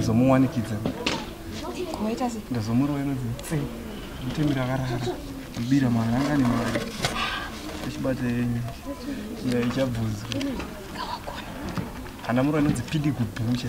ndazomuwanikidza ndazomurova inonzi tse mutemi rakarara mbira mwana anga ane mari achibata yenyu iya ichabvunzwa ana murova inonzi pidi kubhucha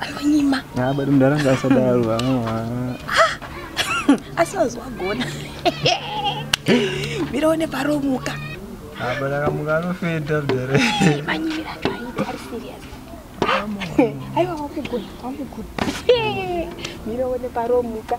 anonyima ah, but mdara ngasadaro asi wazwagona mira une paromuka ah, but akamuka anofeta mdara manyimira acho aita ari serious aiwa wamugona wamugona mira une paromuka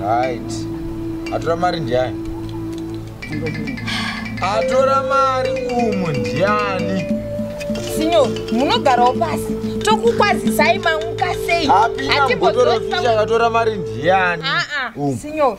right atora mari ndiani atora mari umu ndiani sinyo munogarawo pasi tokukwazisai mamuka sei hatibotoatora mari ndiani sinyo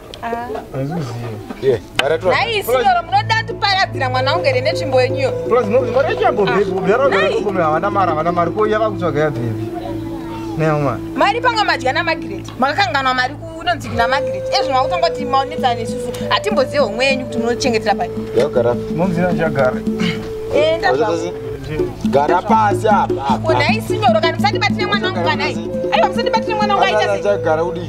nhai sinyoro munoda tiparadzira mwana wangu here netsvimbo yenyuyo mari panga madya namagireti makakanganwa mari kunonzi kuna magireti ezvino makutanga kuti maonetsana nesusu hatimbozive homwe yenyu kuti munochengetera pai gara pasi apa nhai sinyoro kana musandibatire mwana wangu kanai aiwa musandibatire mwana wangu aitagara kudii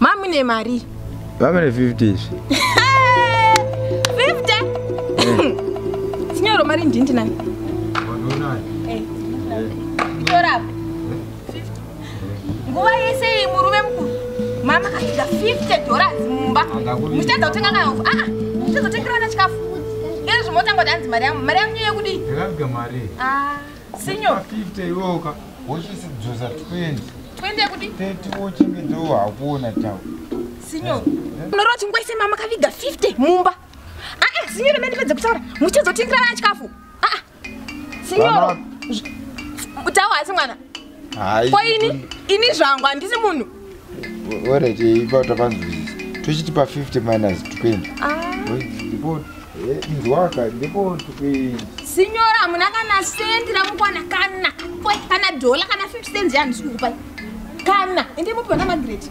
Mamune mari. Mamune 50 izvi. 50. Sinyoro mari ndinti nani? Eh. Tora. Nguva yese iyi murume mkuru. Mama kaida 50 dollars mumba. Muchadza kutenga kana ufu. Ah, muchadza kutenga kana chikafu. Ngezvi motanga kuti anzi mari yangu. Mari yangu yekudi. Ndakabika mari. Ah. Senior. Fifty yoka. Wochisi dzoza twenty. Twenty yekuti? Thirty wochinge dzowa hakuona tawo. Senior. Unorova chingwa ise mama kaviga fifty mumba. Ah ah senior mende pedze kutaura. Muchizotengera vana chikafu. Ah ah. Senior. Tawo hasi mwana. ko ini ini zvangu handisi munhu orit eh, ipa tapanzwisisa tochiti pa 50 minus 20 ndipo nzwaka ndipo sinyora hamuna kana sendi ramukwana kana kana dhola kana 50 cents yandisikukupaya kana ende mupona magreti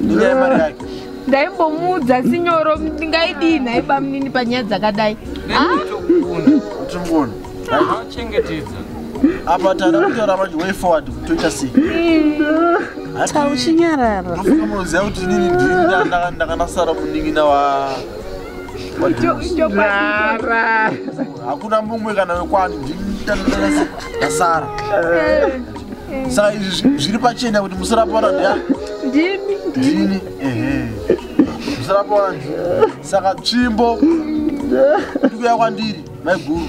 inyaya yemari yake ndaimbomuudza sinyoro ndingaidii nhai bamunini panyaya dzakadai tikuona achengetedza apa tana kutaura manje way forward toita sei tauchinyarara ndofunga munoziva kuti inini ndiri ndakanasara munin'ina wa Rara. hakuna mumwe kana wekwani ndindanasara saka izvi zviri pachena kuti musarapora ndiani ndini ndini ehe musarapora ndini saka tsvimbo ndikuya kwandiri maiguru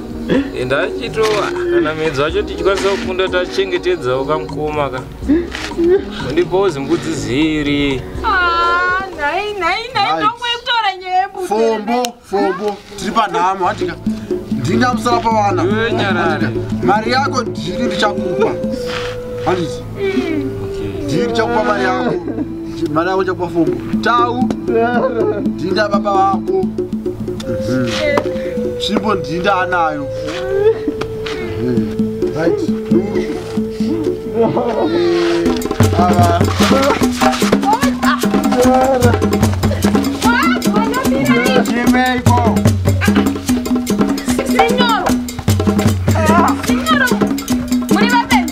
enda achitowa kana miedzi wacho tichikwanisa kukunda tachengetedzawo kamukoma ka undipawo zimbudzi ziri ah, nhai nhai nhai ndokutora nyaya fombo fombo tiri panhamo hatika ndingamusara pavana mari yako ndiri ndichakupa handiti Ndiri chakupa mari yako. Mari yako chakupa fomu. Tau. Ndinda baba vako. Tsvimbo ndinda anayo. Right. Ah.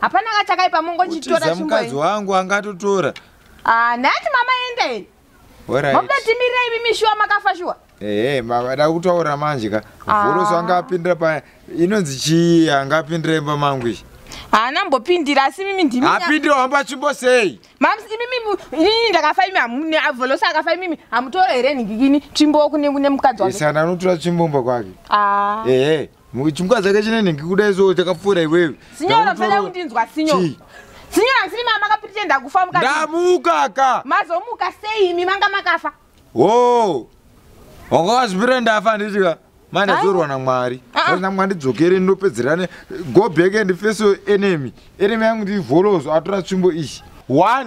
hapana ka chakaipa mongochitora mukadzi wangu angatotora ah, nhati mama enda eni mobuda timirira imi mishuwa makafa shuwa ehe mavada kutaura manje ka ah. vhoroso anga apindira paya inonzi chii anga apindira imba mangu izvi haana mbopindira asi mimi ndimi apindira wamba atsvimbo sei mams imimi inini ndakafa imi hamune avolosa akafa imimi hamutore here nhingikini tsvimbo kune kune mukadzi wake isana anotora tsvimbo mba kwake ah. ehe Muchimukadzi ake chinene ngikuda izo chakapfuura iwewe. Sinyora pfela kundinzwa sinyora. Sinyora siri mama kapitenda kufa mukati. Ndamuka ka. Mazomuka sei imi manga makafa? Oh. Wakazvipira ndafa ndichika. Mane zorwa na Mwari. Ah, ah. Kana Mwari dzokere ndopedzerane go back and face your enemy. Enemy yangu ndi volozo atora tsvimbo ishi. 1